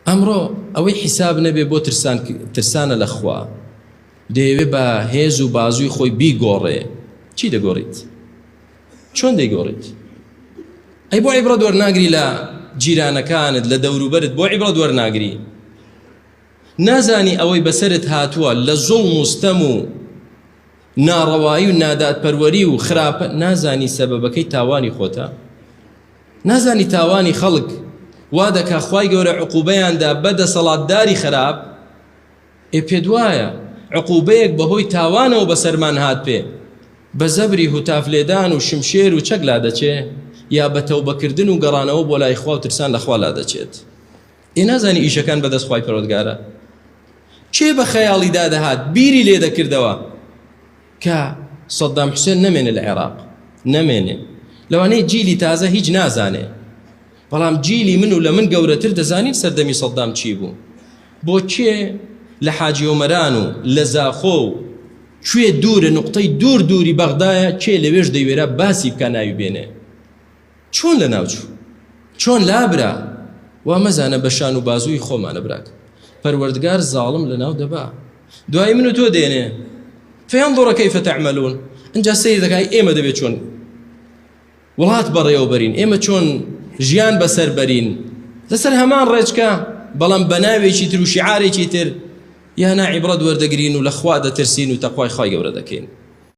ئەمڕۆ ئەوەی حیساب نەبێ بۆ ترسان ترسانە لە خوا دەیەوێ بە هێز و بازووی خۆی بیگۆڕێ چی دەگۆڕیت چۆن دەیگۆڕیت ئەی بۆ عیبڕەت وەرناگری لە جیرانەکانت لە دەوروبەرت بۆ عیبڕەت وەرناگری نازانی ئەوەی بەسرت هاتووە لە زوڵ مستەم و ناڕەوایی و نادادپەروەری و خراپە نازانی سەبەبەکەی تاوانی خۆتە نازانی تاوانی خەڵک وا دەکا خوای گەورە عقوبەیاندا بە دەسەڵاتداری خراپ ئێ پێت وایە عقوبەیەک بەهۆی تاوانەوە بەسەرمان هات پێ بە زەبری هوتاف لێدان و شمشێر و چەک لا دەچێ یا بە تەوبەکردن و گەڕانەوە بۆ لای خوا و ترسان لەخوا لا دەچێت ئێ نازانی ئیشەکان بەدەست خوای پەرۆدگارە کێ بە خەیاڵی دادەهات بیری لێ دەکردەوە کە سەددام حوسێن نەمێنێ لە عێراق نەمێنێ لەوانەیە جیلی تازە هیچ نازانێ بەڵام جیلی من و لە من گەورەتر دەزانین سەردەمی سەددام چی بوو بۆ کێ لە حاجی ئۆمەران و لە زاخۆ و کوێ دوورە نقطەی دوور دووری بەغدایە کێ لەوێش دەیوێرا باسی بکە ناوی بێنێ چۆن لەناوچوو چۆن لابرا وا مەزانە بە شان و بازووی خۆمانە براک پەروەردگار زاڵم لەناو دەبا دوای من و تۆ دێنێ فیان دۆڕە کەیفە تەعمەلون ئەجا سەیر دەکای ئێمە دەبێت چۆن وڵات بەڕێوەبەرین ئێمە چۆن ژیان بەسەر بەرین لەسەر هەمان ڕێچکە بەڵام بە ناوێکی تر و شعارێکی تر یانا عیبڕەت وەردەگرین و لە خوا دەترسین و تەخوای خی گەورە دەکەین